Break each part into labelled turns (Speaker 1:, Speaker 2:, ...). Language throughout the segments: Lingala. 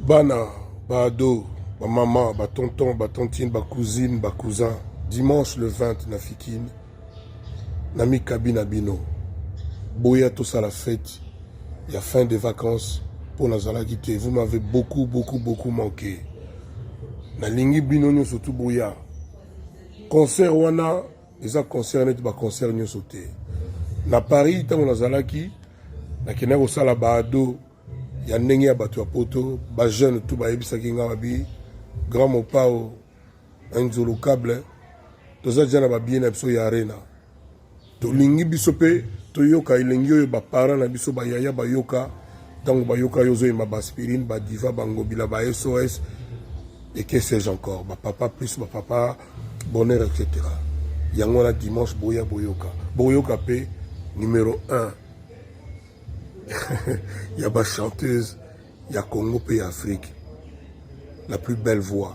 Speaker 1: bana baado bamama batonton batontine bacousine bacousin dimanche le 20 na fikine na mikabi na bino boya tosala fete ya fin de vacances mpo nazalaki te vous m'avez beaucoup beaucoup beaucoup manqué nalingi bino nyonso tu boya concert wana eza concert neti ba concert nyonso te na paris ntango nazalaki nakendaki kosala baado ya ndenge ya bato ya poto bajeune tu bayebisaki ngai babi grand mopao anzolo cable toza deja na babiye na biso ya arena tolingi biso mpe toyoka elengi oyo baparent na biso bayaya bayoka ntango bayoka yo ozoyema baspirine badiva bangobila ba sos et que sais-je encore bapapa plus bapapa bonheur etc yango wana dimanche boya boyoka boyoka mpe numero 1 ya bachanteuse ya congo mpe ya afrique la plus belle voix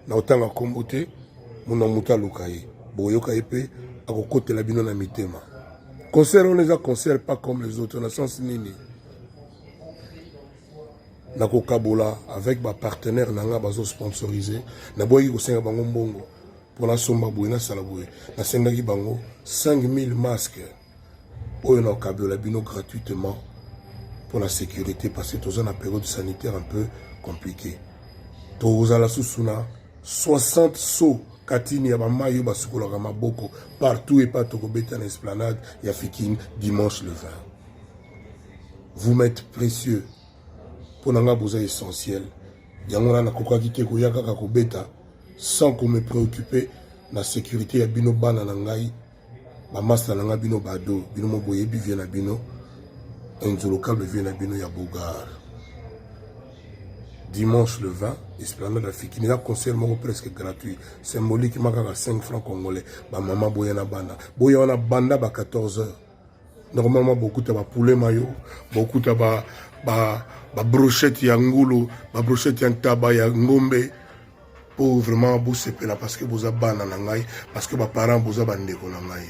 Speaker 1: na otanga nkombo te mona moto aluka ye boyoka ye mpe akokotela bino na mitema concert wana eza concert pas comme les autres na sens nini na kokabola avec ba partenaire na nga bazo sponsoriser na boyaki kosenga bango mbongo mpo nasomba boye nasala boye nasengaki bango 5000 masque oyo na kokabola bino gratuitement mpo na sécurité parce que toza na période sanitaire un peu compliqué tozala susu na 60 so katini ya bamai oyo basukolaka maboko partout epa tokobeta na esplanade ya fikine dimanche le 20 vous m'êtes précieux mpo na ngai boza essentiel yango wana nakokaki te koya kaka kobeta sans ko me préoccuper na sécurité ya bino bana na ngai bamasta na ngai bino bado bino mo boyebi vie na bino inzolokable vie na bino ya bogar dimanche le 20 esplanade afiki eza concert moko presque gratuit symboliquement kaka 5 francs congolais bamama boya na bana boya wana banda ba 14 heures normalement bokuta ba poulet mayo bokuta ba ba ba brochette ya ngulu ba brochette ya ntaba ya ngombe po vraiment bosepela parce que boza bana na ngai parce que ba parents boza ba ndeko na ngai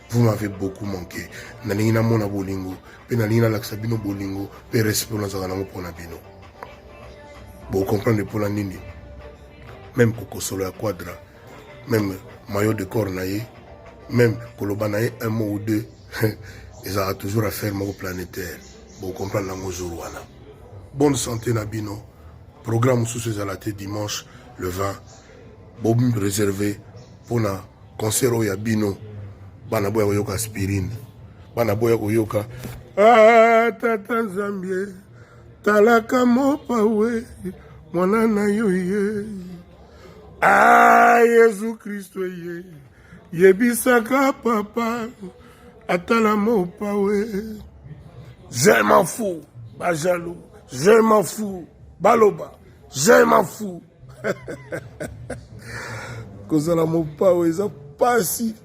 Speaker 1: vous m'avez beaucoup manqué nalingi namona bolingo mpe nalingi nalakisa bino bolingo mpe respect oyo nazalaka nango mpo na bino bocomprendre mpo na nini meme kokosolo ya quadra meme mayo de corps na ye meme koloba na ye un mot ou deux ezalaka toujours affaire moko planétaire bocomprendre yango jour wana bonne santé na bino programme mosusu ezala te dimanche le 20 boreserve mpona concert oyo ya bino bana boya koyoka aspirine bana boya koyoka ah, tata nzambie talaka mopawe mwana na yo ye Ah, Yesu Kristo ye yebisaka papa atala mopawe je m'en fous bajaloux je m'en fous baloba je m'en fous kozala mopawe eza mpasi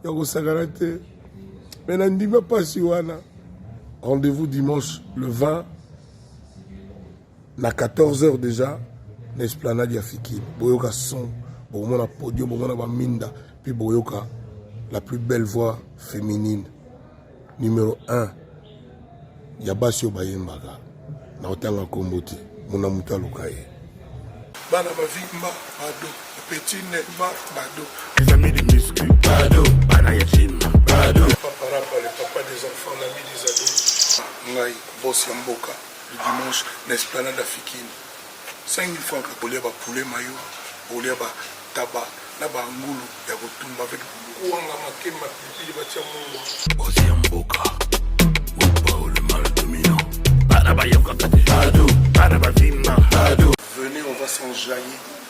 Speaker 1: ya kosakana te me na ndima mpasi wana rendez-vous dimanche le 20 na 14 heures déjà na esplanade ya fikini boyoka son bokomona podio bokomona baminda mpe boyoka la plus belle voix féminine numéro 1 ya basi oyo bayembaka na kotanga nkombo te mona moto aluka ye bana bavimba bado petit nema bado les amis de muscu bado bana ya gym bado papa rapa le papa des enfants l'ami des ados ngai boss ya mboka Le dimanche na esplanade afikin 5000 francs kaka kolia ba poulet mayo kolia ba taba na ba ngulu ya kotumba avec kwanga makemba pilipili batia mungwa. Boss ya mboka Wipao le mal dominant Bana bayokaka te Bado Bana bavima Bado Venez on va s'enjailler